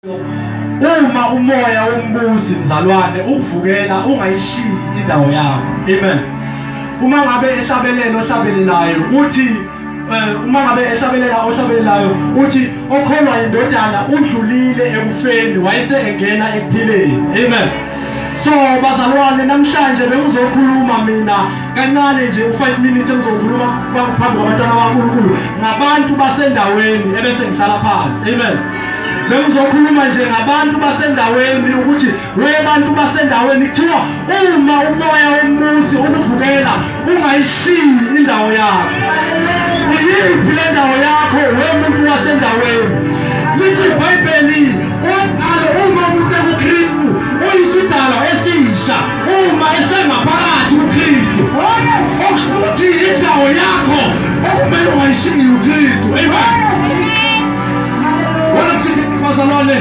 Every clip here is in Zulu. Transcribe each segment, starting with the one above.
Uma umoya wombusi mzalwane uvukela ungayishiyi indawo yakho. Amen. Uma ngabe ehlabelela ohlabelelayo uthi eh, uma ngabe ehlabelela ohlabelelayo uthi okholwa indodana udlulile ekufeni wayese engena ekuphileni. Amen. So bazalwane namhlanje bengizokhuluma mina kancane nje u5 minutes engizokhuluma phambi kwabantwana baNkulunkulu ngabantu basendaweni ebese ngihlala phansi. Amen. bengizokhuluma nje ngabantu basendaweni ukuthi we bantu basendaweni kuthiwa uma umoya womuzi ukuvukela ungayishiyi indawo yakho uyiphi le ndawo yakho we muntu wasendaweni lithi ibhayibheli uqalo uma umuntu ekukristu uyisidalwa esisha uma esengaphakathi kukristu okusho ukuthi indawo yakho okumele ungayishiyi ukristu amen Bazalwane,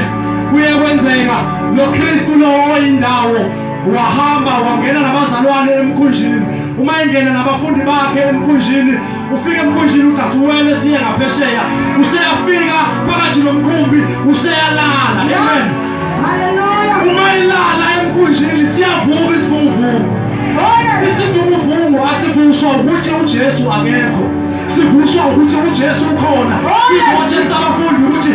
kuye kwenzeka lo Kristu lowo oyindawo wahamba wangena nabazalwane emkhunjini uma engena nabafundi bakhe emkhunjini ufika emkhunjini uthi asiwele siye ngaphesheya useyafika phakathi nomkhumbi useyalala amen uma ilala emkhunjini siyavuka isivunguvungu oh, isivunguvungu asivuswa ukuthi ujesu akekho sivuswa ukuthi uJesu ukhona sizowatshela abafundi ukuthi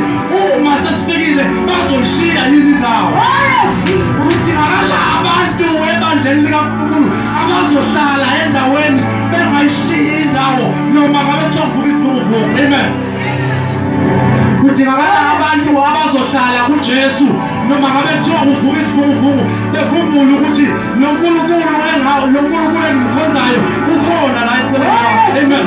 uma sesifikile bazoyishiya yini indawo ukuthi akala abantu ebandleni likaNkulunkulu abazohlala endaweni bengayishiyi indawo noma ngabe kuthiwa kuvuka isivunguvungu amen kudingakala abantu abazohlala kuJesu noma ngabe kuthiwa kuvuka isivunguvungu bekhumbule ukuthi Lo Nkulunkulu engawo, lo Nkulunkulu engimkhonzayo ukhona la eceleni. Amen.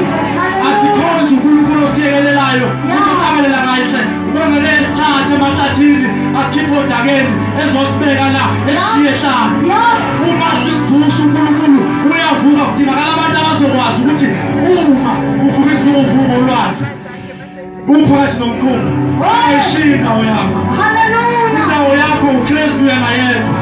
Asikhonze uNkulunkulu osiyekelelayo, uthi uqabelela kahle. Ubongele esithathe emahlathini, asikhiphe odakeni ezosibeka la eshiye hlanga. Uma sivusa uNkulunkulu uyavuka kudingakala abantu abazokwazi ukuthi uma uvuka isivumo uvuka olwandle. Umphakathi nomkhumbi ayishiyi indawo yakho. Indawo yakho uKristu yena yedwa.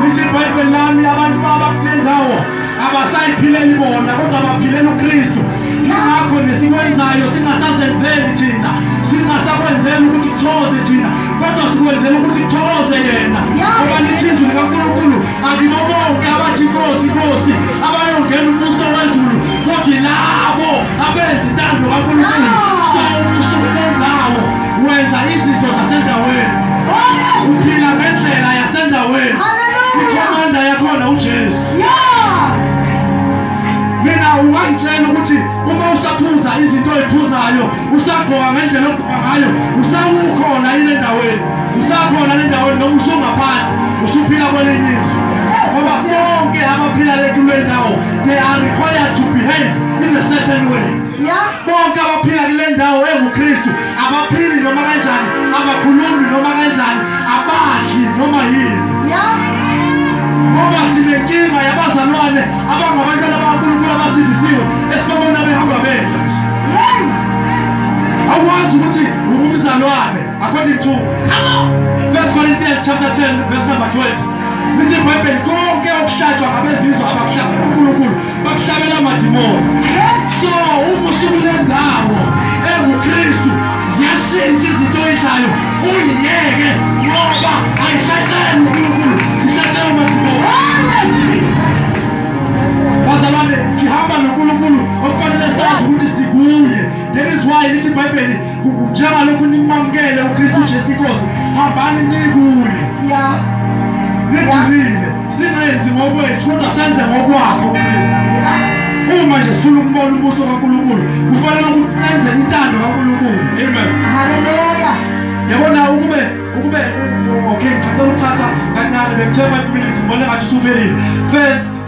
Lithi iBhayibheli lami abantu baba kule ndawo abasayiphileli bona kodwa baphilela uKristu. Yingakho nesikwenzayo singasazenzeli thina, singasakwenzeli ukuthi kuthokoze thina, kodwa sikwenzela ukuthi kuthokoze yena. Ngoba lithi izwi likaNkulunkulu akibo bonke abathi Nkosi, Nkosi abayongena umbuso wezulu kodwa yilabo abenza intando kaNkulunkulu sawona usuku lendawo wenza izinto zasendaweni uphila ngendlela yasendaweni ikhomanda yakhona uJesu mina ungangitshela ukuthi uma usaphuza izinto oyiphuzayo usagqoka ngendlela ogqoka ngayo usawukhona yini endaweni usakhona le ndaweni noma usungaphandle usuphila kwelinye izwe ngoba bonke abaphila le kule ndawo They are required to behave in a certain way. Yeah. Bonke abaphila kule ndawo enguKristu abaphili noma kanjani, abakhulumi noma kanjani, abadli noma yini. Yeah. Ngoba sinenkinga yabazalwane abangabantwana bakaNkulunkulu abasindisiwe esibabona behamba bedla nje. Yey! Awazi ukuthi ungumzalwane according to Come on. 1 Corinthians chapter 10 verse number 20. lithi ibhayibheli konke okuhlatshwa ngabezizwe abakuhlaba unkulunkulu bakuhlabela amadimoni so uma usukule ndawo engukristu ziyashintsha izinto oyidlayo uyiyeke ngoba ayihlatshelwe unkulunkulu zihlatshelwe amadimoni bazalwane sihamba nonkulunkulu okufanele sazi ukuthi sikuye that is why lithi ibhayibheli njengalokhu nimamukele uKristu Jesu inkosi hambani nikuye nigulile singenzi ngokwethu kodwa senze ngokwakhe uKristu uma nje sifuna ukubona umbuso kaNkulunkulu kufanele ukuthi senze intando kaNkulunkulu amen haleluya yabona ukube ukube okay ngisacela ukuthatha kancane bekuthe 5 minutes ngibona ngathi usuphelile first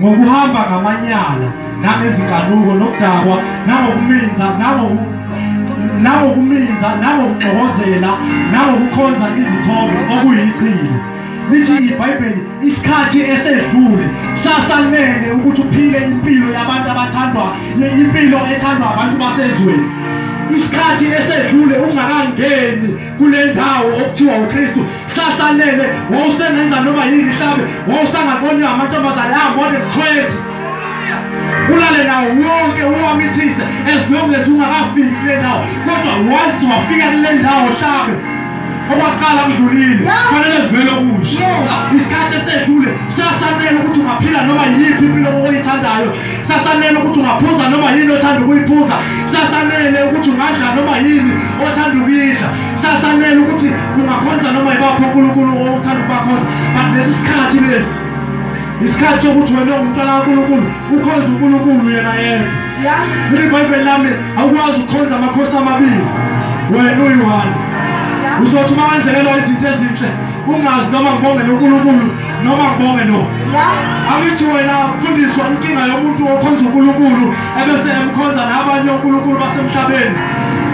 ngokuhamba ngamanyala nangezinkanuko nokudakwa nangokuminza nangokuminza nangokugxokozela nangokukhonza izithombe okuyichilo lithi ibhayibheli isikhathi esedlule sasanele ukuthi uphile impilo yabantu abathandwa impilo ethandwa abantu basezweni isikhathi esedlule ungakangeni kule ndawo okuthiwa uKristu sasalele wawusengenza noma yini mhlawumbe wawusangaboni amantombazane ambone mthwethi ulale nawo wonke uwamithise as long as ungakafiki kule ndawo kodwa once wafika kule ndawo mhlawumbe okwaqala kudlulile kufanele kuvele okusha isikhathi esedlule siyasanela ukuthi ungaphila noma yiphi impilo oyithandayo sasanele ukuthi ungaphuza noma yini othanda ukuyiphuza sasanele ukuthi ungadla noma yini othanda ukuyidla sasanele ukuthi ungakhonza noma yibaphi unkulunkulu othanda ukubakhonza but lesi sikhathi lesi isikhathi sokuthi wena ungumntwana kankulunkulu ukhonza unkulunkulu yena yedwa leli bhayibheli lami awukwazi ukukhonza amakhosi amabili wena uyi-one uzothi uma wenzekelwa izinto ezinhle ungazi noma ngibongele unkulunkulu noma ngibonge no angithi wena fundiswa inkinga yomuntu okhonza uNkulunkulu ebese emkhonza nabanye oNkulunkulu basemhlabeni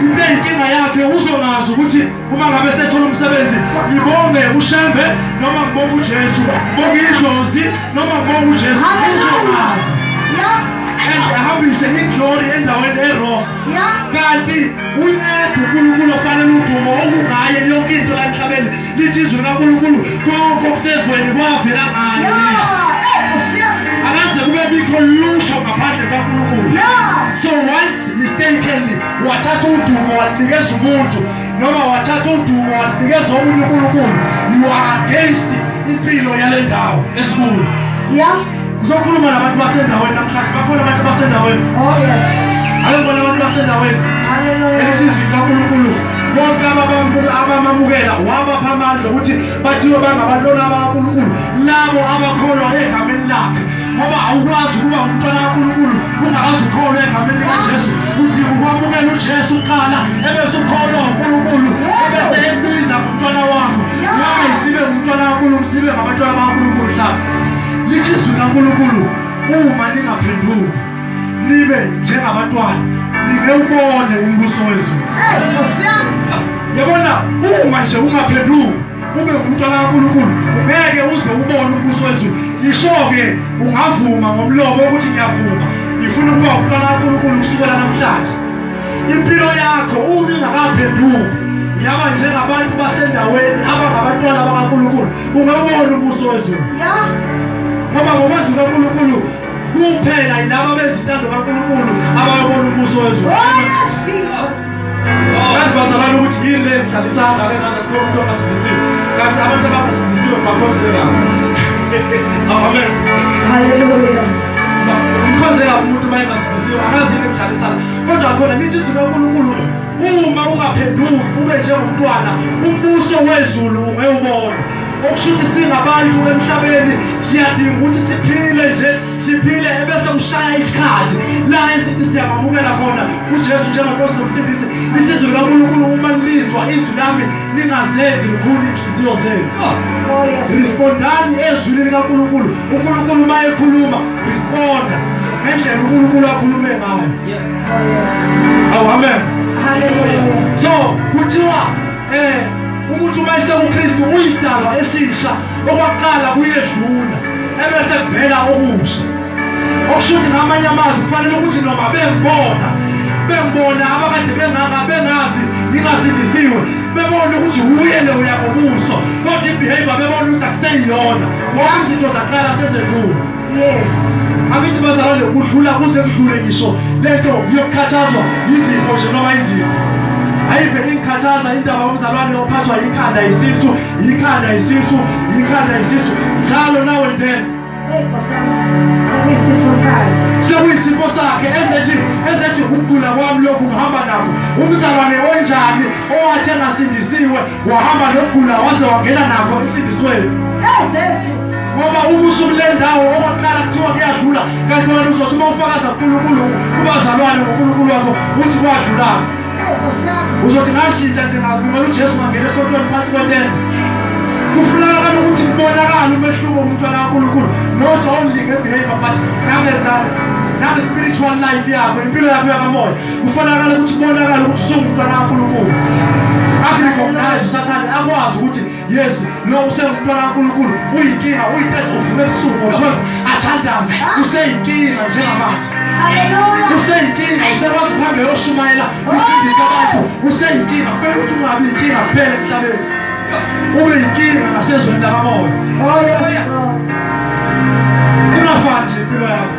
into eyinkinga yakhe uzongazi ukuthi uma ngabe sethola umsebenzi ngibonge ushembe noma ngibonge uJesu bonge idlozi noma ngibonge uJesu uzongazi ahambise iglory endaweni erong kanti unedu unkulunkulu ofanele udumo okungaye yonke into la emhlabeni lithi izwi likaNkulunkulu konke okusezweni kwavela ngaye akaze kube bikho lutho ngaphandle kukaNkulunkulu so once mistakenly wathatha udumo walinikeza umuntu noma wathatha udumo walinikeza omunye uNkulunkulu you are against impilo yale ndawo esikhulu yeah Ngizokhuluma nabantu basendaweni namhlanje. Bakhona abantu basendaweni. Oh yes. Ayibona abantu basendaweni. Hallelujah. Elithi izwi likaNkulunkulu bonke abamamukela wabapha amandla ukuthi bathiwe bangabantwana bakaNkulunkulu labo abakholwa egameni lakhe ngoba awukwazi ukuba umntwana kaNkulunkulu ungakazi ukholwa egameni likaJesu udinga ukwamukela uJesu kuqala ebese ukholwa uNkulunkulu ebese ebiza ngomntwana wakho why sibe ngumntwana kaNkulunkulu sibe ngabantwana bakaNkulunkulu hlaba lithi izwi likaNkulunkulu uma ningaphenduki nibe njengabantwana ningewubone umbuso wezulu yabona uma nje ungaphenduki ube ngumntwana kaNkulunkulu ungeke uze ubone umbuso wezulu ngisho-ke ungavuma ngomlomo ukuthi ngiyavuma ngifuna ukuba umntwana kaNkulunkulu kusukela namhlanje impilo yakho uma ingakaphenduki yaba njengabantu basendaweni abangabantwana bakaNkulunkulu ungabona ubuso wezulu ngoba ngokwazi kaNkulunkulu kuphela yilabo abenza intando kaNkulunkulu abayobona ubuso wezulu ngazi bazalana ukuthi yini le mdlalisa angake ngazi athi umuntu ongasindisiwe kanti abantu abangasindisiwe bakhonzeka amen haleluya mkhonzeka umuntu uma engasindisiwe angazi yini emdlalisana kodwa khona nithi izwi lonkulunkulu uma ungaphenduki ube njengomntwana umbuso wezulu ungewubona okusho ukuthi singabantu emhlabeni siyadinga ukuthi siphile nje siphile ebese kushaya isikhathi la esithi siyamamukela khona ujesu njengenkosi nomsindisi lithi izwi likankulunkulu uma lilizwa izwi lami lingazenzi likhulu inhliziyo zenu oh, oh, respondani ezwini likankulunkulu unkulunkulu uma ekhuluma responda ngendlela unkulunkulu akhulume ngayo Oh, amen. Hallelujah. So kuthiwa eh umuntu uma esekuKristu uyisidalwa esisha okwaqala kuyedlula ebese kuvela okusha. Okusho ukuthi ngamanye amazwi kufanele ukuthi noma bengibona bengibona abakade benganga bengazi ngingasindisiwe bebona ukuthi wuye lo uyakubuso kodwa ibehavior bebona ukuthi akuseyiyona ngoba izinto zaqala sezedlule yes angithi bazalwane kudlula kuze kudlule ngisho lento yokukhathazwa yizifo nje noma izifo ayive ingikhathaza indaba yomzalwane ophathwa yikhanda isisu yikhanda isisu yikhanda isisu njalo nawe ndena sekuyisifo sakhe ezethi ezethi ukugula kwami lokhu ngihamba nakho umzalwane onjani owathi engasindisiwe wahamba nokugula waze wangena nakho insindisweni hey jesu ngoba uma usuku le ndawo okwaqala kuthiwa kuyadlula kanti wena uzothi uma ufakaza kunkulunkulu kubazalwane ngonkulunkulu wakho uthi kwadlulana uzothi ngashintsha nje ngakumele ujesu ngangena esontweni phansi kwetende kufunakala ukuthi kubonakale umehluko umntwana kankulunkulu not only ngebehavior but nange spiritual life yakho impilo yakho yakamoya kufanakala ukuthi kubonakala ukuthi usungumntwana kaNkulunkulu akurecognize usathane akwazi ukuthi yes lo usengumntwana kaNkulunkulu uyinkinga uyintethe uvuke ebusuku ngo-12 athandaze useyinkinga njengamanje useyinkinga usekwazi ukuhambe yoshumayela usindisa abantu useyinkinga kufanele ukuthi ungabi yinkinga kuphela emhlabeni ube yinkinga nasezweni lakamoya oh, ungafani nje impilo yakho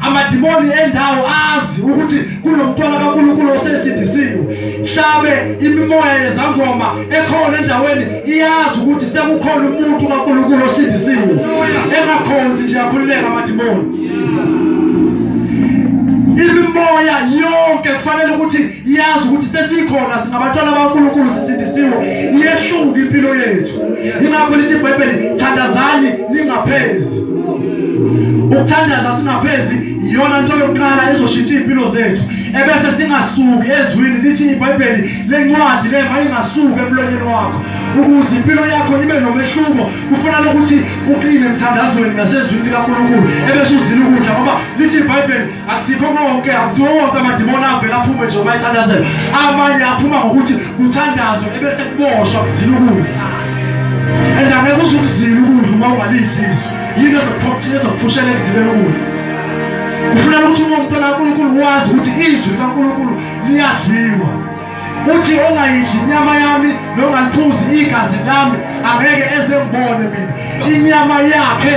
amadimoni endawo azi ukuthi kunomntwana kaNkulunkulu osesindisiwe hlabe imimoya yezangoma ekhona endaweni iyazi ukuthi sekukhona umuntu kaNkulunkulu osindisiwe engakhonzi nje akhululeka amadimoni imimoya yonke kufanele ukuthi iyazi ukuthi sesikhona singabantwana bankulunkulu sisindisiwe iyehluka impilo yethu yingakho lithi ibhayibheli thandazani ningaphezi ukuthandaza singaphezi iyona nto yokuqala ezoshintsha iy'mpilo zethu ebese singasuki ezwini lithi ibhayibheli lencwadi le mayingasuki emlonyeni wakho ukuze impilo yakho ibe nomehluko kufanele ukuthi uqine emthandazweni nasezwini likankulunkulu ebese uzile ukudla ngoba lithi ibhayibheli akusikho konke akusiwo wonke amadimoni avele aphume nje uma ethandazela amanye aphuma ngokuthi kuthandazwe ebese kuboshwa kuzila ukudla and angeke uze ukuzila ukudla uma ungalidliswa yini ezokuphushela ekuzileni ukudla kufuneka ukuthi uma umntwana kankulunkulu wazi ukuthi izwi likankulunkulu liyadliwa uthi ongayidli inyama yami nongaliphuzi igazi lami angeke ezengibone mina inyama yakhe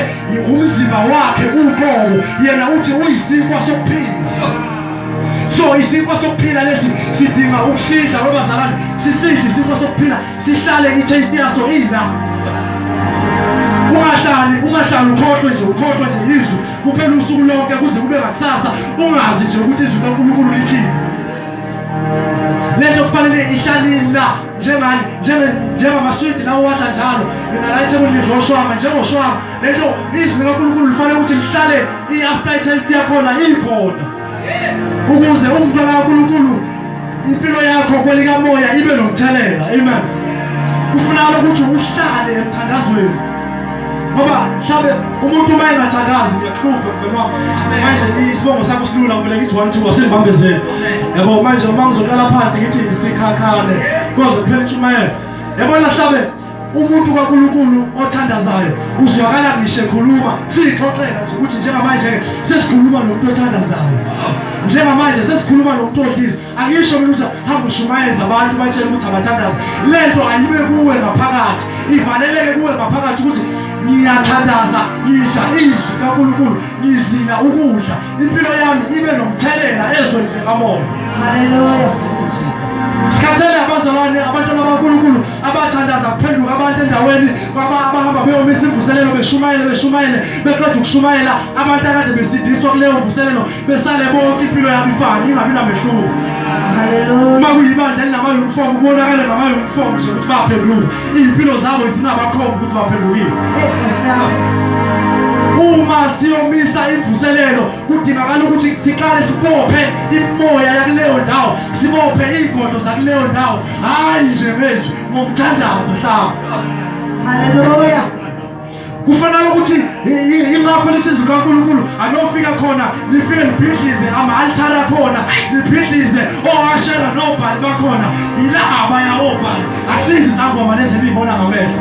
umzimba wakhe uqobo yena uthi uyisinkwa sokuphila so isinkwa sokuphila lesi sidinga ukusidla kwabazalwane sisidle isinkwa sokuphila sihlale i-taste yaso ila ungahlali ungahlali ukhohlwe nje ukhohlwe nje izwi kuphela usuku lonke kuze kube ngakusasa ungazi nje ukuthi izwi kankulunkulu lithini lento kufanele ihlalini la njengani njengamaswidi lawo wadla njalo nina la ethebulini njengoshwama njengoshwama lento izwi likankulunkulu lifanele ukuthi lihlale i-after test yakhona ikhona ukuze umntwana kankulunkulu impilo yakho kwelikamoya ibe nomthelela amen kufunakala ukuthi uhlale emthandazweni ngoba mhlawumbe umuntu uma engathandazi ngiyakuhlupha mngani wami manje isibongo sakho silula ngivele ngithi one two asingibambezele yabo manje uma ngizoqala phansi ngithi sikhakhane koze kuphela intshumayelo yabona mhlawumbe umuntu kaNkulunkulu othandazayo uzwakala ngisho ekhuluma siyixoxela nje ukuthi njengamanje sesikhuluma nomuntu othandazayo njengamanje sesikhuluma nomuntu odliza Angisho mina ukuthi hamba ushumayeza abantu batshele ukuthi abathandaze. Lento ayibe kuwe ngaphakathi. Ivaleleke kuwe ngaphakathi ukuthi ngiyathandaza ngidla izwi kaNkulunkulu ngizila ukudla impilo yami ibe nomthelela ezweni likamoya haleluya sikhathele abazalwane abantwana baNkulunkulu abathandaza kuphenduka abantu endaweni abahamba beyomisa imvuselelo beshumayele beshumayele beqeda ukushumayela abantu akade besindiswa kuleyo mvuselelo besale bonke impilo yabo ifana ingabi namehluko uma kuyibandla elinama-uniform kubonakale ngama-uniform nje ukuthi baphenduka iy'mpilo zabo zinabakhomba ukuthi baphendukile uma siyomisa imvuselelo kudingakala ukuthi siqale sibophe imoya yakuleyo ndawo sibophe iy'godlo zakuleyo ndawo hhayi nje ngezwi ngomthandazo hlaba haleluya kufanele ukuthi ingakho lithi izwi likaNkulunkulu anofika khona nifike nibhidlize ama-altari akhona nibhidlize oashera nobhali bakhona yila abaya obhali akusizi izangoma lezi eniyibona ngamehlo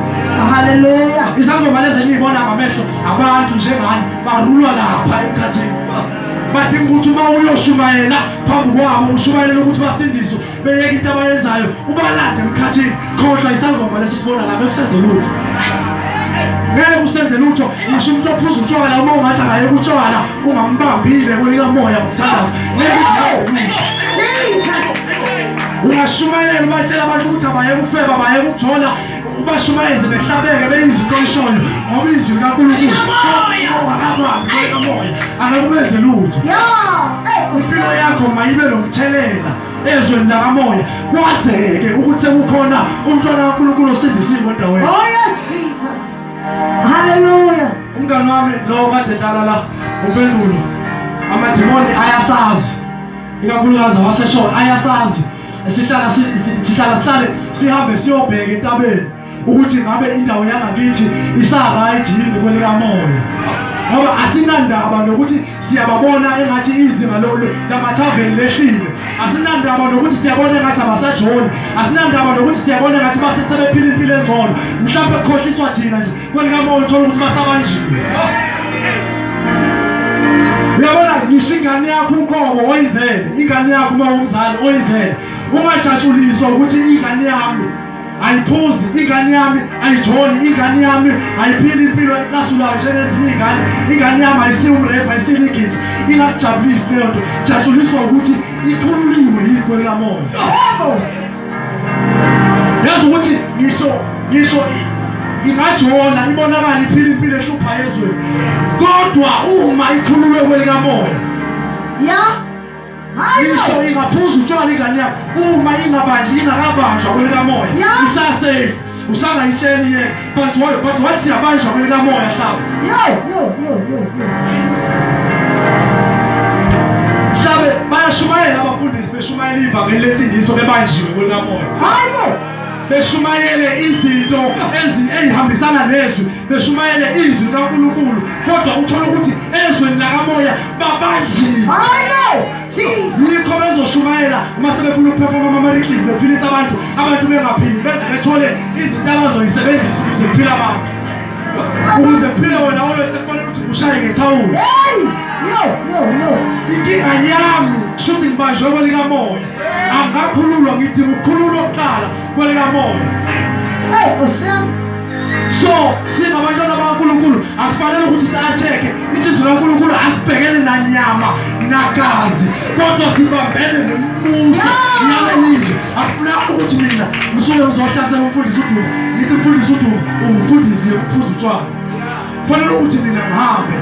haleluya izangoma lezi eniyibona ngamehlo abantu njengani barulwa lapha emkhathini badinga ukuthi uma uyoshumayela phambi kwabo ushumayela ukuthi basindiswe beyeka into abayenzayo ubalande emkhathini khohlwa isangoma leso sibona lapha kusenze lutho ngeke usenze lutho ngisho umuntu ophuza utshwala uma ungathi akaye kutshwala ungambambile kolikamoya mthandazi ungashumayela ubatshela abantu ukuthi abayeke ufeba bayeke ukujola ubashumayeze behlabeke beyiziqolishoyo ngoba izwi likankulunkulu akamoya akakubenze lutho impilo yakho mayibe nomthelela ezweni lakamoya kwazeke ukuthi sekukhona umntwana kankulunkulu osindisiwe endaweni oh, haleluya umngane wami lowo kade dlala la umpendulo amadimoni ayasazi ikakhulukazi awaseshona ayasazi sihlala sihlala sihlale sihambe siyobheka entabeni ukuthi ngabe indawo yangakithi isa-right yini kwelikamoya ngoba asinandaba nokuthi siyababona engathi izinga lamathaveni lehlile asinandaba nokuthi siyabona engathi abasajoni asinandaba nokuthi siyabona engathi basesebephila impilo engcono mhlawumbe kukhohliswa thina nje kwelikamoya uthola ukuthi basabanjiwe uyabona ngisho ingane yakho uqobo oyizele ingane yakho uma umzali oyizele ungajatshuliswa ukuthi ingane yami ayiphuzi ingane yami ayijoli ingane yami ayiphili impilo ecasulayo njengezinye iy'ngane ingane yami ayisiwumrefa ayisiligidi ingakujabulisi leyo nto jatshuliswa ukuthi ikhululiwe yini kwelikamoya yazi ukuthi ngisho ngisho ingajona ibonakala iphila impilo ehlupha ezweni kodwa uma ikhululwe kwelikamoya ya ngisho ingaphuza utshwala ingane yakho uma ingabanji ingakabanjwa kwelikamoya isasafe usangayitsheli yena but but wathi yabanjwa kwelikamoya hlaba yo yo yo yo hlabe bayashumayela abafundisi beshumayela ivangeli lethi ngiso bebanjiwe kwelikamoya hayibo beshumayele izinto ezihambisana nezwi beshumayele izwi likaNkulunkulu kodwa uthola ukuthi ezweni lakamoya babanjile yikho bezoshumayela uma sebefuna ukuphefoma amamariklis bephilisa abantu abantu bengaphili beze bethole izinto abazoyisebenzisa ukuze kuphile abantu ukuze kuphile wena olwethu sekufanele ukuthi kushaye ngethawula inkinga yami shuthi ngibanjwe kwelikamoya angakhululwa ngidinga ukukhululwa kuqala kwelikamoya so singabantwana bakankulunkulu akufanele ukuthi si-atheke ithizwe lankulunkulu asibhekene nanyama nagazi kodwa sibambene nembuso yalelizwe akufunanga ukuthi mina ngisuke ngizohlasela umfundisi udumo ngithi mfundisi udumo ungifundisi yokuphuza utshwala kufanele ukuthi mina ngihambe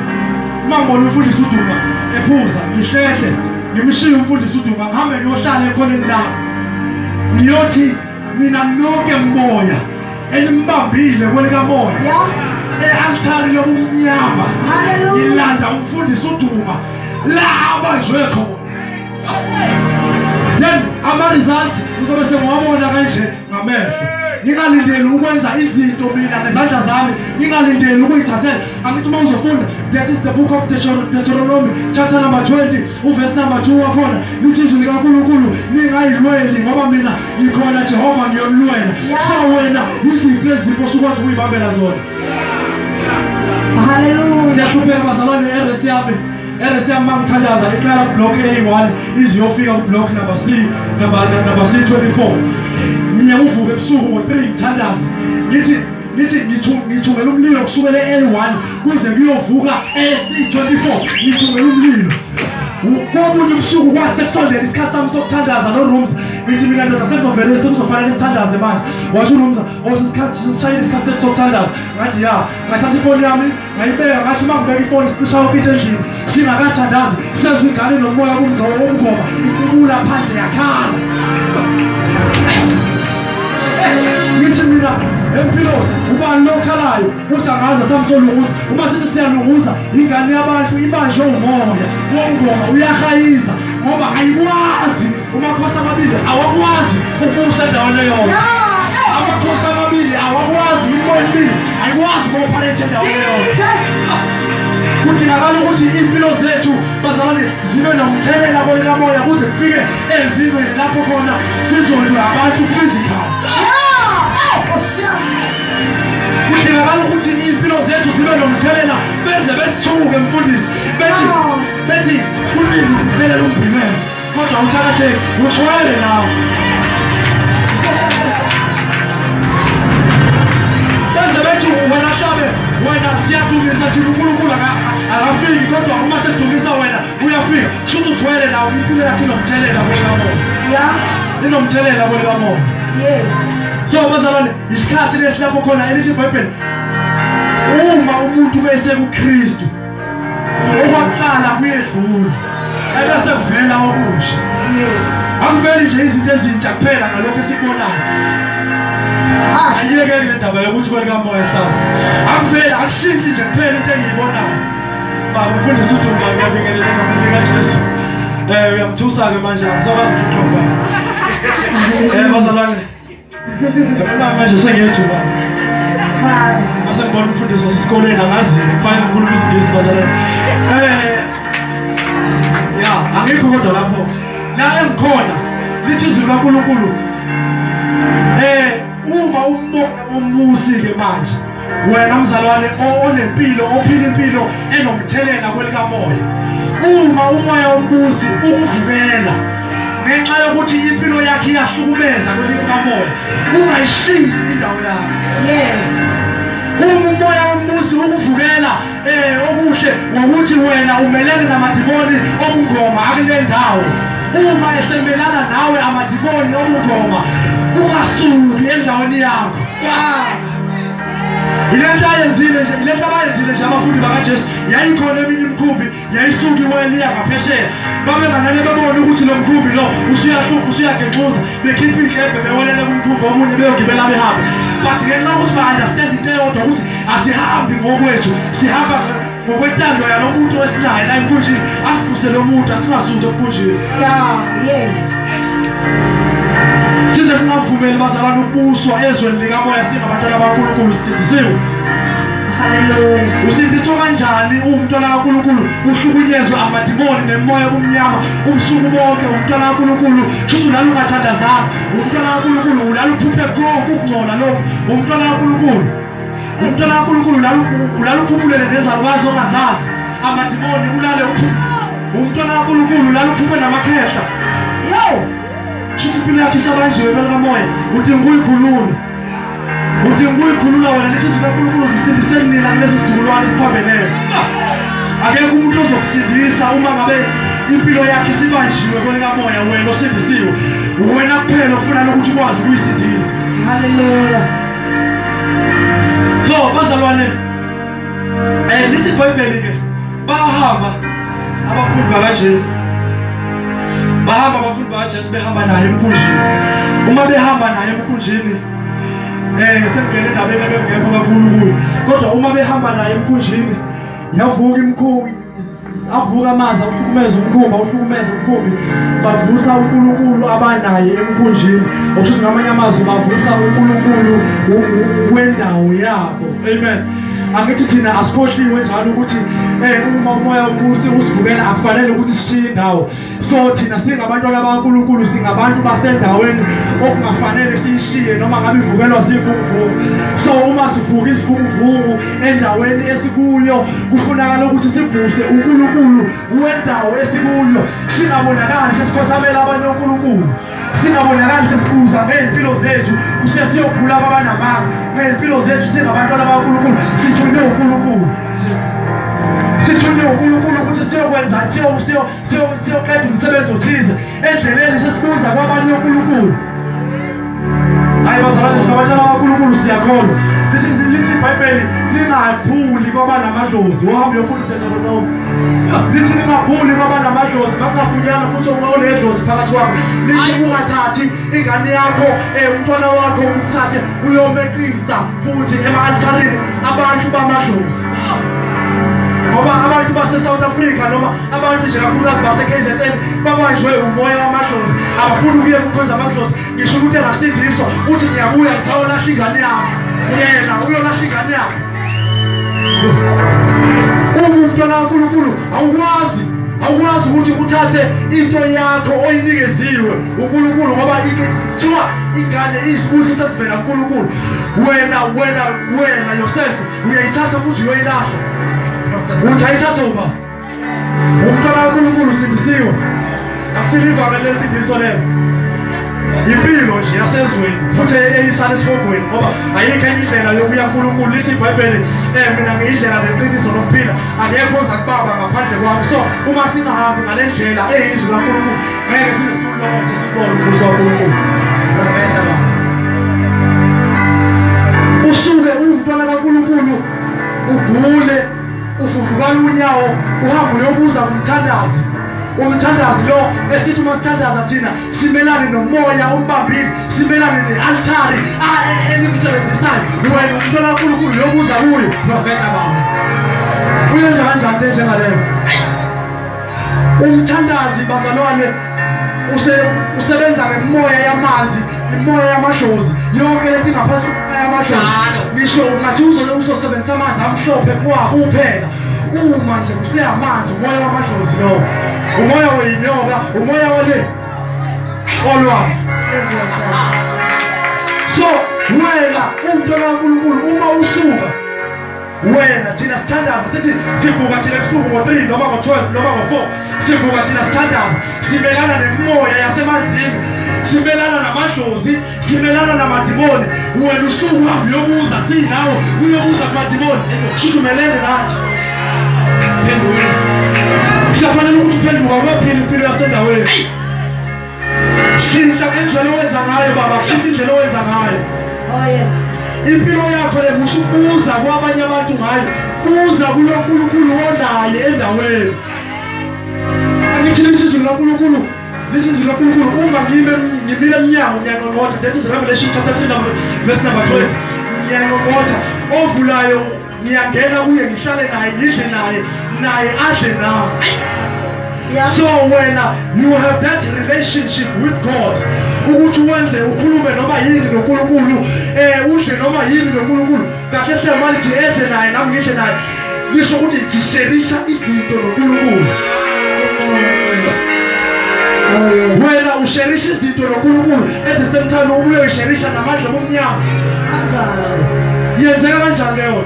uma ngibona umfundisi uduma ephuza ngihlehle ngimshiye umfundisi uduma ngihambe ngiyohlala ekhoneni lami ngiyothi nina nonke moya elimbambile kwelikamoya e-altari lobumnyama ilanda umfundisi uduma la abanjwe khona then ama-result uzobe sengiwabona kanje ngamehlo ngingalindeli ukwenza izinto mina ngezandla zami ngingalindeli ukuyithathela angithi uma uzofunda that is the book of deuteronomy chapter number 20 uvesi number 2 wakhona lithi izwi likankulunkulu ningayilweli ngoba mina ngikhona jehova ngiyolulwela so wena yiziphi lezipho usukwazi ukuyibambela zona haleluya siyahlupheka bazalwane eres yami eres yami mangithandaza iqala kublock a1 iziyofika kublock number c number number c 24 ngiye uvuke ebusuku ngo-3 ngithandaze ngithi ngithi ngithungela umlilo kusukela e-L1 kuze kuyovuka e-C24 ngithungela umlilo kobunye ubusuku kwathi sekusondela isikhathi sami sokuthandaza norooms ngithi mina ndoda sekuzovele sekuzofanele sithandaze manje washo urooms osesikhathi oh, sishayile isikhathi sethu sokuthandaza ngathi ya ngathatha ifoni yami ngayibeka ngathi uma ngibeka ifoni sicisha yonke into endlini singakathandazi sezwa ingane nomoya kumngqobo womngoma iqubula phandle yakhala ngithi mina empilosi ubani lokhalayo uthi angaze samsolunguza uma sithi siyalunguza ingane yabantu ibanjwe umoya womngoma uyahayiza ngoba ayikwazi Umakhosi amabili awakwazi ukusa endaweni eyodwa. Amakhosi amabili awakwazi imimoya emibili ayikwazi uku-operate endaweni eyodwa. Kudingakala ukuthi impilo zethu bazalwane zibe nomthelela kolikamoya kuze kufike ezingweni lapho khona sizondwa abantu physical. Kudingakala ukuthi impilo zethu zibe nomthelela beze besithuke mfundisi bethi bethi kunini kuphela lombhinelo Kodwa uthakatheke uthwele nawe. Bese bethi wena hlabe wena siyadumisa thina uNkulunkulu akafiki kodwa uma sedumisa wena uyafika. Kusho ukuthi uthwele nawe impilo yakho inomthelela kwela moya. Yeah. Inomthelela kwela moya. Yes. So bazalwane isikhathi lesilapho khona elithi iBhayibheli uma umuntu kuyesekuKristu okwaqala kuyedlula ebese kuvela okusha akuveli nje izinto ezintsha kuphela ngalokho esikubonayo ah, ayiyekeni le ndaba yokuthi kwelikamoya hlaba akuveli akushintshi nje kuphela into engiyibonayo baba mfundisi udumba ngiyabingelela egameni likajesu um uyamthusa-ke manje angisakwazi ukuthi uqhobana um eh, bazalwane Ngibona manje sengiyethuka. Mase ngibona umfundisi wasesikoleni angazi kufanele ngikhulume isingisi bazalwane. Eh. Ya, angikho kodwa lapho. La engikhona lithi izwi likaNkulunkulu. Eh, uma umoya umusi ke manje. wena mzalwane onempilo ophila impilo enomthelela kwelikamoya uma umoya wombusi ukuvukela ngenxa yokuthi impilo yakhe iyahlukumeza kwelikamoya ungayishiyi indawo yakho yes uma umoya wombusi ukuvukela eh okuhle ngokuthi wena umelene namadimoni obungoma akule ndawo uma esemelana nawe amadimoni obungoma ungasuki endaweni yakho yile nto ayenzile nje yile nto abayenzile nje abafundi bakajesu yayikhona eminye imikhumbi yayisuke iweliya ngaphesheya babenganane bebone ukuthi lo mkhumbi lo usuyahlupha usuyagenxuza bekhipha iy'kebhe bewelele kumkhumbi omunye beyogibela behambe but ngenxa yokuthi ba-understand into eyodwa ukuthi asihambi ngokwethu sihamba ngokwentando yalo muntu esinaye la emkhunjini asivuse lo muntu asingasundi emkhunjini yes size singavumeli bazalwane ukubuswa ezweni likamoya singabantwana bankulunkulu sisindisiwe usindiswa kanjani uwumntwana kaNkulunkulu uhlukunyezwe amadimoni nemoya omnyama ubusuku bonke umntwana kaNkulunkulu shuthi ulala ungathandazanga umntwana kaNkulunkulu ulala uphuphe konke ukungcola lokhu umntwana kaNkulunkulu umntwana kaNkulunkulu ulala uphuphulele nezalukazi ongazazi amadimoni ulale umntwana kaNkulunkulu ulala uphuphe namakhehla yo shuthi impilo yakhe isabanjiwe belikamoya udinga uyikhulula udinga uyikhulula wena lithi izwi kaNkulunkulu zisindiseni nina kulesi sizukulwane esiphambelele akekho umuntu ozokusindisa uma ngabe impilo yakhe isibanjiwe kwelikamoya wena osindisiwe wena kuphela okufunana ukuthi ukwazi ukuyisindisa haleluya so bazalwane eh lithi ibhayibheli ke bahamba abafundi bakaJesu bahamba abafundi bakaJesu behamba naye emkhunjini uma behamba naye emkhunjini eh sengene endabeni ebengekho kakhulu kuyo kodwa uma behamba naye emkhunjini yavuka imkhunji avuka amaza uhlukumeza umkhumba uhlukumeza umkhumbi bavusa uNkulunkulu abanaye emkhunjini okusho ngamanye amazwi bavusa uNkulunkulu wendawo yabo amen angithi thina asikhohliwe njalo ukuthi eh uma umoya ubusi usivukela akufanele ukuthi sishiye indawo so thina singabantwana bakaNkulunkulu singabantu basendaweni okungafanele siyishiye noma ngabe ivukelwa zivunguvungu so uma sivuka isivunguvungu endaweni esikuyo kufunakala ukuthi sivuse uNkulunkulu wendawo esikuyo singabonakali sesikhothamela abanye oNkulunkulu singabonakali sesibuza ngey'mpilo zethu kuse siyogula kwabanamanga ngey'mpilo zethu singabantwana bakankulunkulu sithunywe unkulunkulu sithunywe unkulunkulu ukuthi siyokwenza siyoqeda umsebenzi othize endleleni sesibuza kwabanye unkulunkulu hayi bazalwane singabatshela abankulunkulu siyakhona lithi ibhayibheli lingaphuli kwabanamadozi wahamba yofunda uthetha lonowo lithi ningabhuli ngoba namadlozi makungafunyana futhi ungaonedlozi phakathi wakho lithi ungathathi ingane yakho um umntwana wakho umthathe uyomeqisa futhi ema-altharini abantu bamadlozi ngoba abantu base-south africa noma abantu nje kakhulukazi base-k z n babanjwe umoya wamadlozi abafuni ukuye kukhonza amadlozi ngisho ukuthi engasindiswa uthi ngiyabuya ngisayolahla ingane yami yena uyolahla ingane yakhe umntwana kaNkulunkulu awukwazi awukwazi ukuthi uthathe into yakho oyinikeziwe uNkulunkulu ngoba kuthiwa ingane isibusisa sivela kuNkulunkulu wena wena wena yourself uyayithatha futhi uyoyilahla uthi ayithathe uba Umntwana kaNkulunkulu usindisiwe. Asilivame lensindiso lelo. Impilo nje yasezweni futhi eyisana esihogweni ngoba ayikho enye indlela yokuya kuNkulunkulu lithi iBhayibheli eh mina ngiyindlela neqiniso nokuphila akekho oza kubaba ngaphandle kwami so uma singahambi ngale ndlela eyizwi kaNkulunkulu ngeke size siwulokothe sikubone umbuso kaNkulunkulu usuke uwumntwana kaNkulunkulu ugule uvuvukala unyawo uhambe uyobuza kumthandazi umthandazi lo esithi uma sithandaza thina simelane nomoya ombambile simelane ne-altari elimsebenzisayo wena umntwana kakhulukhulu yobuza kuyo profeta baba uyenza kanjani into enjengaleyo Umthandazi bazalwane use usebenza ngemoya yamanzi imoya yamadlozi yonke lento ingaphansi komoya yamadlozi ngisho ngathi uzosebenzisa amanzi amhlophe kwa kuphela uma nje kuseyamanzi umoya wamadlozi lowo umoya weyinyoka umoya wale olwazi so wena umntwana kankulunkulu uma usuka wena thina sithandaza sithi sivuka thina ebusuku ngo-3 noma ngo-12 noma ngo-4 sivuka thina sithandaza simelana nemimoya yasemanzini simelana namadlozi simelana namadimoni wena usuku uhambe uyobuza sinawo uyobuza kumadimoni shuthi umelene nathi phendula siyafanele ukuthi uphenduka uyophila impilo yasendaweni Shintsha ngendlela owenza ngayo baba, shintsha indlela owenza ngayo. Oh yes. Impilo yakho le musu buza kwabanye abantu ngayo. Buza kuloNkulunkulu onaye endaweni. Angithi lithi izwi likaNkulunkulu This is Lord Kulu Kulu. Uma ngime ngimile emnyango ngiyanqonqotha. That is Revelation chapter 3 number verse number 12. Ngiyanqonqotha. Ovulayo ngiyangena kuye ngihlale naye ngidle naye naye adle nami Yeah. So when uh, you have that relationship with God ukuthi wenze ukhulume noma yini noNkulunkulu eh udle noma yini noNkulunkulu kahle hle malithi edle naye nami ngidle naye lisho ukuthi sisherisha izinto noNkulunkulu wena usherisha izinto noNkulunkulu at the same time ubuye usherisha namandla bomnyama Yenzeka kanjani leyo?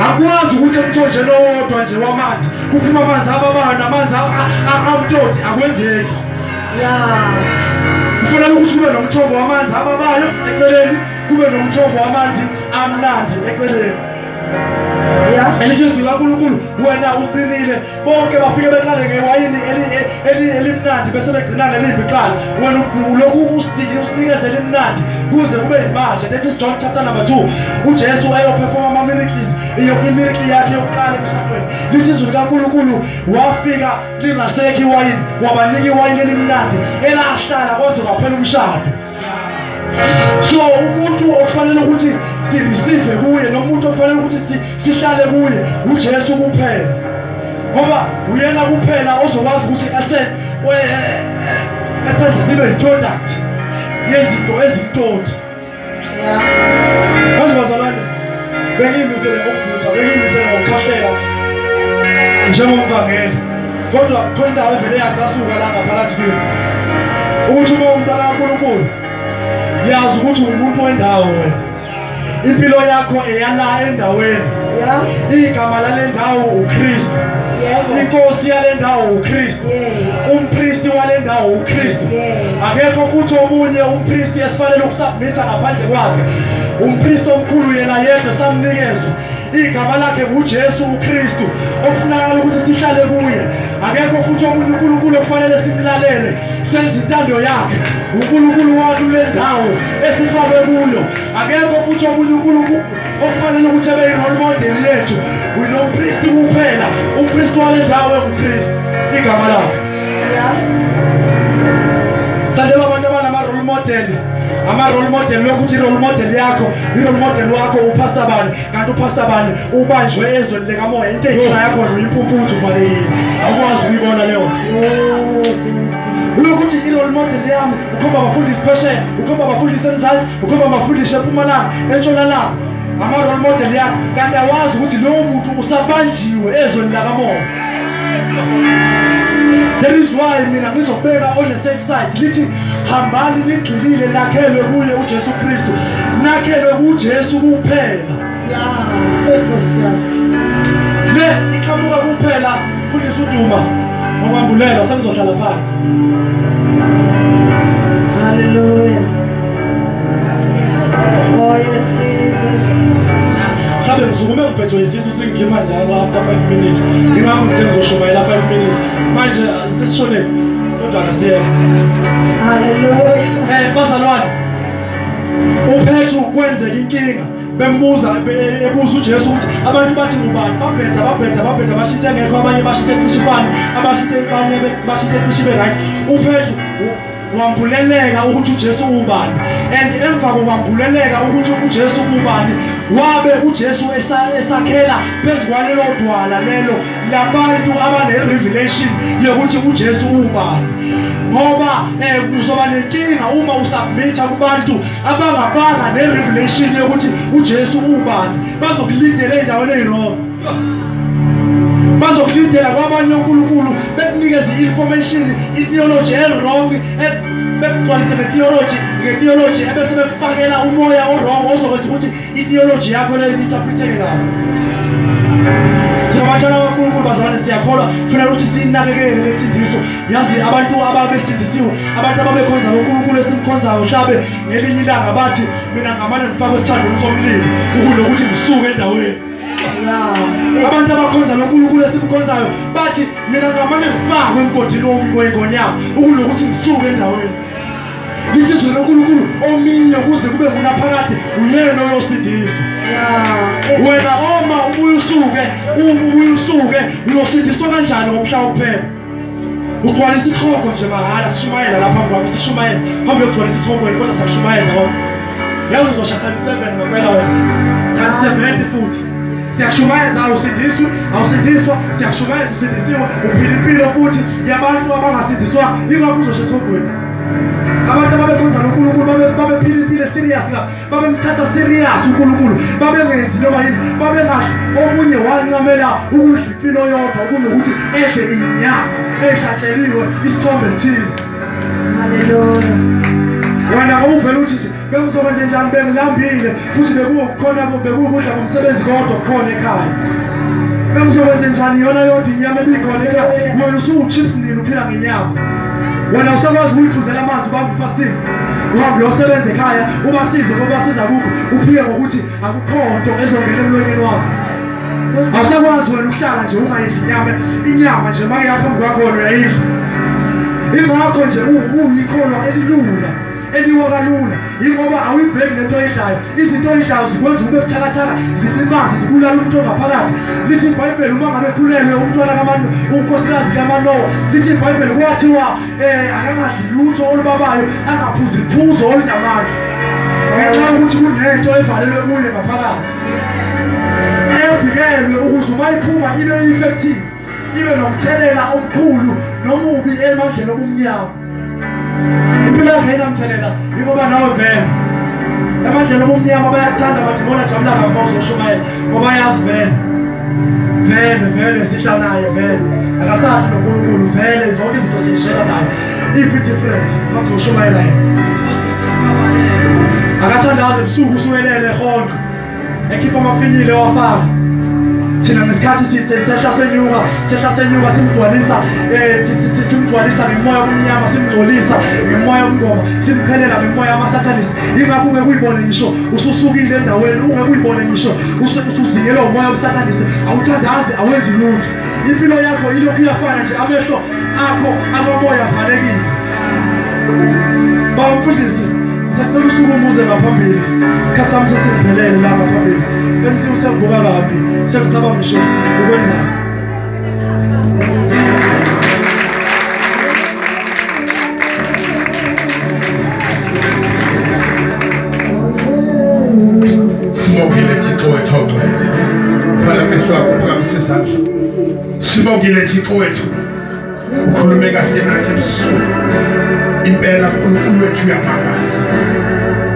Akwazi ukuthi emthonjeni owodwa nje wamanzi kuphuma amanzi ababana amanzi amtoti akwenzeki. Yeah. Kufanele ukuthi kube nomthombo wamanzi ababayo eceleni, kube nomthombo wamanzi amnandi eceleni. Yeah. Elithi izwi laNkulunkulu wena uqinile bonke bafike beqale ngewayini elimnandi bese begcina ngelimbi kuqala wena ugqibu lokhu usidinile usinikeze elimnandi kuze kube yimanje that is john chapter number 2 ujesu ayophefoma ama-miracles imiracle yakhe yokuqala emshadweni lithi izwi likankulunkulu wafika lingasekho iwayini wabanika iwayini elimnandi elahlala kwaze kwaphela umshado so umuntu okufanele ukuthi sireceive kuye nomuntu okufanele ukuthi sihlale kuye uJesu kuphela ngoba uyena kuphela ozokwazi ukuthi ese esenze sibe yiproduct yezinto ezimtoti yeah. bengimisele ukuvutha bengimisele ngokukhahlela njengomvangeli kodwa khona indawo evele yacasuka la ngaphakathi kimi ukuthi uma umntana kaNkulunkulu yazi ukuthi umuntu wendawo wena impilo yakho eyala endaweni igama lale ndawo uKristu inkosi yale ndawo uKristu umpristi wale ndawo uKristu akekho futhi omunye umpristi esifanele ukusubmitha ngaphandle kwakhe umpristi omkhulu yena yedwa samnikezwa igama lakhe nguJesu uKristu okufunakala ukuthi sihlale kuye akekho futhi omunye uNkulunkulu okufanele simlalele senze intando yakhe uNkulunkulu wakhe kule ndawo esifakwe kuyo akekho futhi omunye uNkulunkulu okufanele ukuthi abe yi-role model yethu winompristi kuphela umpristi wale ndawo engumpristi igama lakhe sandelwa abantu abanama-role model ama-role model lokuthi i-role model yakho i-role model wakho upasta bani kanti upasta bani ubanjwe ezweni likamoya into eyinkinga yakhona uyimpumputhu uvalekile awukwazi ukuyibona leyo lokuthi i-role model yami ukhomba abafundisi phesheya ukhomba abafundisi emzansi ukuba mafundisha epumalanga entshonalanga ama-role model yakho kanti awazi ukuthi lowo muntu usabanjiwe ezweni lakamoya there is why mina ngizobeka on the safe side lithi hambani nigxilile nakhelwe kuye ujesu kristu nakhelwe kujesu kuphela ya enkosi yami le iqhamuka kuphela futhi suduma ngokwambulela sengizohlala phansi haleluya oh yes mhlawumbe ngisukume ngiphethwe isisu singikhipha njalo after 5 minutes ngingakho ngithe ngizoshumayela 5 minutes manje sesishonephi kodwa akasiyeka haleluya um bazalwane uphethu kwenzeka inkinga bembuza ebuza uJesu ukuthi abantu bathi ngubani babheda babheda babheda bashinte ngekho abanye bashinte cishe ifane abashinte abanye bashinte cishe ibe right uPetru wambuleleka ukuthi uJesu ubani and emva kokwambuleleka ukuthi uJesu ubani wabe uJesu esakhela phezu kwalelo dwala lelo labantu abane revelation yokuthi uJesu ubani ngoba eh kuzoba nenkinga uma usubmit kubantu abangabanga nerevelation yokuthi uJesu ubani bazokulindela endaweni eyirongo bazokulindela kwabanye uNkulunkulu bekunikeza i-information i-theology e-wrong bekugcwalise nge-theology nge-theology ebese bekufakela umoya o-wrong ozokwenza ukuthi Ideology yakho leyo interpreteke kabi. Singabantwana baNkulunkulu bazalwane siyakholwa kufanele ukuthi sinakekele lensindiso. Yazi abantu ababesindisiwe, abantu ababekhonza loNkulunkulu esimkhonzayo mhlabe ngelinye ilanga bathi mina ngamane ngifakwe esithandweni somlilo ukunokuthi ngisuke endaweni. Abantu abakhonza loNkulunkulu esimkhonzayo bathi mina ngamane ngifakwe emgodini womngonyama ukunokuthi ngisuke endaweni. lithi izwi lonkulunkulu ominye kuze kube ngunaphakade uyena oyosindiswa wena oma ubuye usuke ubuye usuke uyosindiswa kanjani ngomhla wokuphela ugcwalisa isihogo nje mahhala sishumayela lapha kwami sishumayeza phambi yokugcwalisa isihogo wena kodwa sakushumayeza kodwa yazi uzosha time seven ngampela wena time seventy futhi siyakushumayeza awusindiswi awusindiswa siyakushumayeza usindisiwe uphila impilo futhi yabantu abangasindiswa yingakho uzosha esihogweni Abantu ababekhonza noNkulunkulu babephila impilo serious la, babemthatha serious uNkulunkulu, babengenzi noma yini, babengathi omunye wancamela ukudla impilo yodwa kunokuthi edle inyama edatsheliwe isithombe esithize. Haleluya. Wena awuvela uthi nje Bengizokwenze njani bengilambile futhi bekuwukhona bekuwukudla komsebenzi kodwa khona ekhaya. Bengizokwenze njani yona yodwa inyama ebikhona ekhaya. Wena usuwuchips nini uphila ngenyama. Wena usakwazi ukuyiphuzela amanzi ubambe fasting. Uhambe uyosebenza ekhaya ubasize ngoba siza kukho uphike ngokuthi akukho nto ezongena emlonyeni wakho. Awusakwazi wena ukuhlala nje ungayidli inyama inyama nje makuyaphambi kwakho wena uyayidla. Ingakho nje uyikhona elilula. eliwo kalula yingoba awuyibheki nento oyidlayo izinto oyidlayo zikwenza ube buthakathaka zilimaze zibulala umuntu ongaphakathi lithi ibhayibheli uma ngabe khulelwe umntwana kamanu unkosikazi kamanowa lithi ibhayibheli kwathiwa um eh, akangadli lutho olubabayo angaphuzi liphuzo olunamandla ngenxa yokuthi kunento evalelwe kuye ngaphakathi evikelwe ukuze uma iphuma ibe effective ibe nomthelela omkhulu nomubi emandleni obumnyama impilo yakhe inamthelela yingoba nawe vele emandleni obumnyama bayakuthanda amadimoni ajabula ngakho uzoshumayela ngoba yazi vele vele vele sihla naye vele akasazi nonkulunkulu vele zonke izinto siyishela naye iphi difference uma kuzoshumayela yena akathandazi ebusuku usuwelele honke ekhipha amafinyile wafaka thina ngesikhathi sehla senyuka sehla senyuka simgcwalisa eh, simgcwalisa ngemoya omnyama simgcolisa ngemoya omngoma simqhelela ngemoya amasatanist ingakho ungeke uyibone ngisho ususukile endaweni ungeke uyibone ngisho usuzingelwa umoya obusatanist awuthandazi awenzi lutho impilo yakho ilokhu iyafana nje amehlo akho akomoya afanekile bawumfundisi sacela usuku umuze ngaphambili isikhathi sami sesiphelele la ngaphambili emsini usengibuka kabi sengisaba ngisho ukwenzani sibongile thixo wethoxele vala amehlo akho phakamisa izandla Sibongile Thixo wethu ukhulume kahle nathi ebusuku impela uNkulunkulu wethu uyamangaza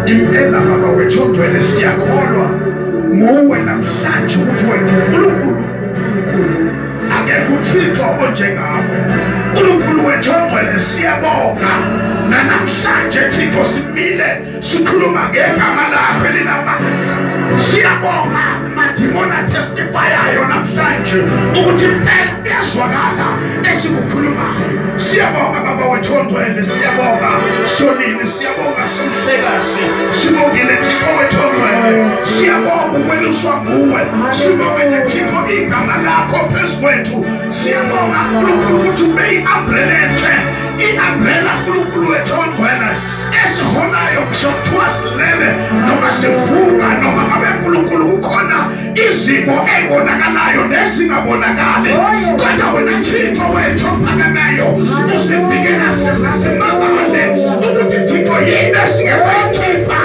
impela baba wethu ongcwele siyakholwa nguwe namhlanje ukuthi wena uNkulunkulu akekho uThixo onjengawe uNkulunkulu wethu ongcwele siyabonga nanamhlanje Thixo simile sikhuluma ngegama lakho elinamandla siyabonga madimoni atestifayayo namhlanje ukuthi impela kuyazwakala esikukhulumayo siyabonga baba wethu ongcwele siyabonga sonini siyabonga somhlekazi sibongile thixo wethu ongcwele siyabonga ukweluswa nguwe sibonga nje thixo igama lakho phezu kwethu siyabonga nkulunkulu ukuthi ube i-ambrela enhle i-ambrela nkulunkulu wethu ongcwele esihonayo ngisho kuthiwa silele noma sivuka noma ngabe nkulunkulu kukhona izimo ebonakalayo nezingabonakali oh, kodwa wena thixo wethu ophakemeyo usivikela size simangale ukuthi thixo yini esike sayikhipha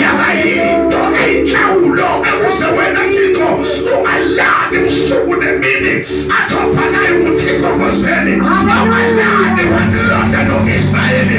yaba yinto eyinhlawulo ekuze wena thixo ungalali usuku nemini athophanayo ukuthi thixo ngozeni awalali wanilonda noisrayeli